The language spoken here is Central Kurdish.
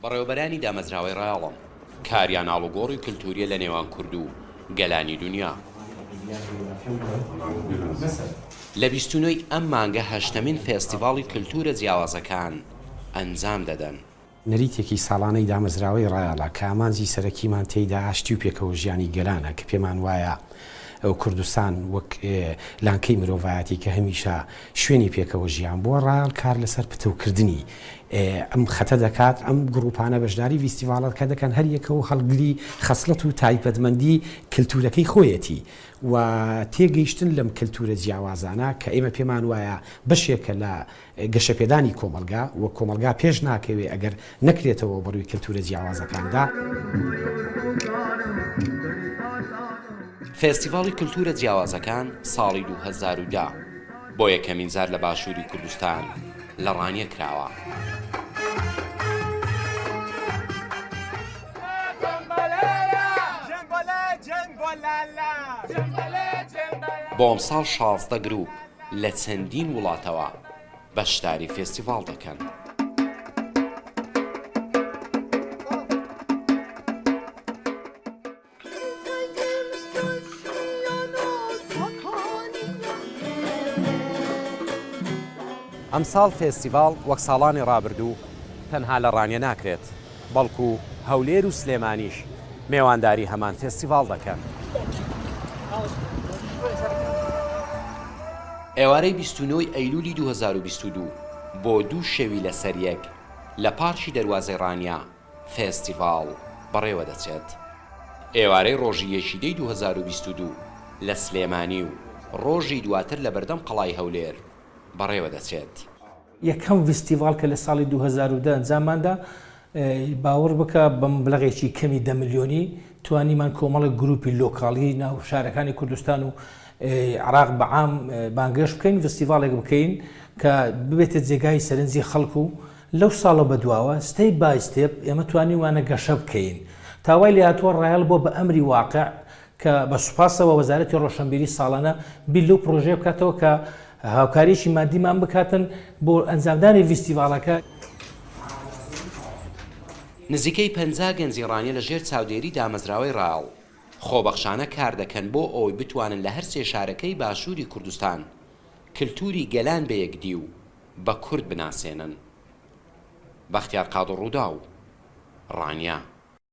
بەڕێوەبەرانی دامەزراوەی ڕایەڵم کاریان ئاڵوگۆڕی کلتوریە لە نێوان کوردو گەلانی دونیا. لە بیست و نۆی ئەم مانگە هەشتەمین فێستیڤاڵی کلتورە جیاوازەکان ئەنجام دەدەن. نەریتێکی ساڵانەی دامەزراوەی ڕایەڵە کە ئامانجی سەرەکیمان تێیدا ئاشتی و پێکەوەژیانی گەلانە کە پێمان وایە کوردستان وەک لانکەی مرۆڤایەتی کە هەمیشە شوێنی پێکەوە ژیان بووە، ڕایەڵ کار لەسەر پتەوکردنی ئەم خەتە دەکات، ئەم گرووپانە بەشداری ڤیستیڤاڵەکە دەکەن، هەر یەکەو هەڵگری خەسڵەت و تایبەتمەندی کلتوورەکەی خۆیەتی و تێگەیشتن لەم کلتوورە جیاوازانە کە ئێمە پێمان وایە بەشێکە لە گەشەپێدانی کۆمەڵگا و کۆمەڵگا پێش ناکەوێ ئەگەر نەکرێتەوە بە ڕووی کەلتوورە جیاوازەکاندا. فێستیڤاڵی کەلتوورە جیاوازەکان ساڵی دوو هەزار و دە بۆ یەکەمین جار لە باشووری کوردستان لە ڕانیە کراوە. بۆ ئەمساڵ شازدە گرووپ لە چەندین وڵاتەوە بەشداری فێستیڤاڵ دەکەن. ئەمساڵ فێستیڤاڵ وەک ساڵانی ڕابردوو تەنها لە ڕانیە ناکرێت، بەڵکو هەولێر و سلێمانیش مێوانداری هەمان فێستیڤاڵ دەکەن. ئێوارەی بیست و نۆ ی ئەیلوولی دوو هەزار و بیست و دوو، بۆ دوو شەوی لەسەریەک لە پارکی دەروازەی ڕانیە فێستیڤاڵ بەڕێوەدەچێت. ئێوارەی ڕۆژی یەکی دەی دوو هەزار و بیست و دوو لە سلێمانی و ڕۆژی دواتر لەبەردەم قەڵای هەولێر بەڕێوەدەچێت. یەکەم ڤیستیڤاڵ کە لە ساڵی دوو هەزار و دە ئەنجاممان دا، باوەڕ بکە بە مبلەغێکی کەمی دە ملیۆنی توانیمان کۆمەڵێک گرووپی لۆکاڵی ناو شارەکانی کوردستان و عێراق بە عام بانگێشت بکەین، ڤیستیڤاڵێک بکەین کە ببێتە جێگای سەرنجی خەڵک و لەو ساڵە بە دواوە ستێپ بای ستێپ ئێمە توانیومانە گەشە بکەین تا وای لێهاتووە ڕایەڵ بووە بە ئەمری واقع کە بە سوپاسەوە وەزارەتی ڕۆشەنبیری ساڵانە بیر لەو پڕۆژەیە بکاتەوە کە هاوکارییەکی مادیمان بکاتن بۆ ئەنجامدانی ڤیستیڤاڵەکە. نزیکەی پەنجا گەنجی ڕانیە لە ژێر چاودێری دامەزراوەی ڕاڵ، خۆبەخشانە کار دەکەن بۆ ئەوەی بتوانن لە هەرسێ شارەکەی باشووری کوردستان کلتووری گەلان بە یەکدی و بە کورد بناسێنن. بەختیار قادرڕووداو، ڕانیە.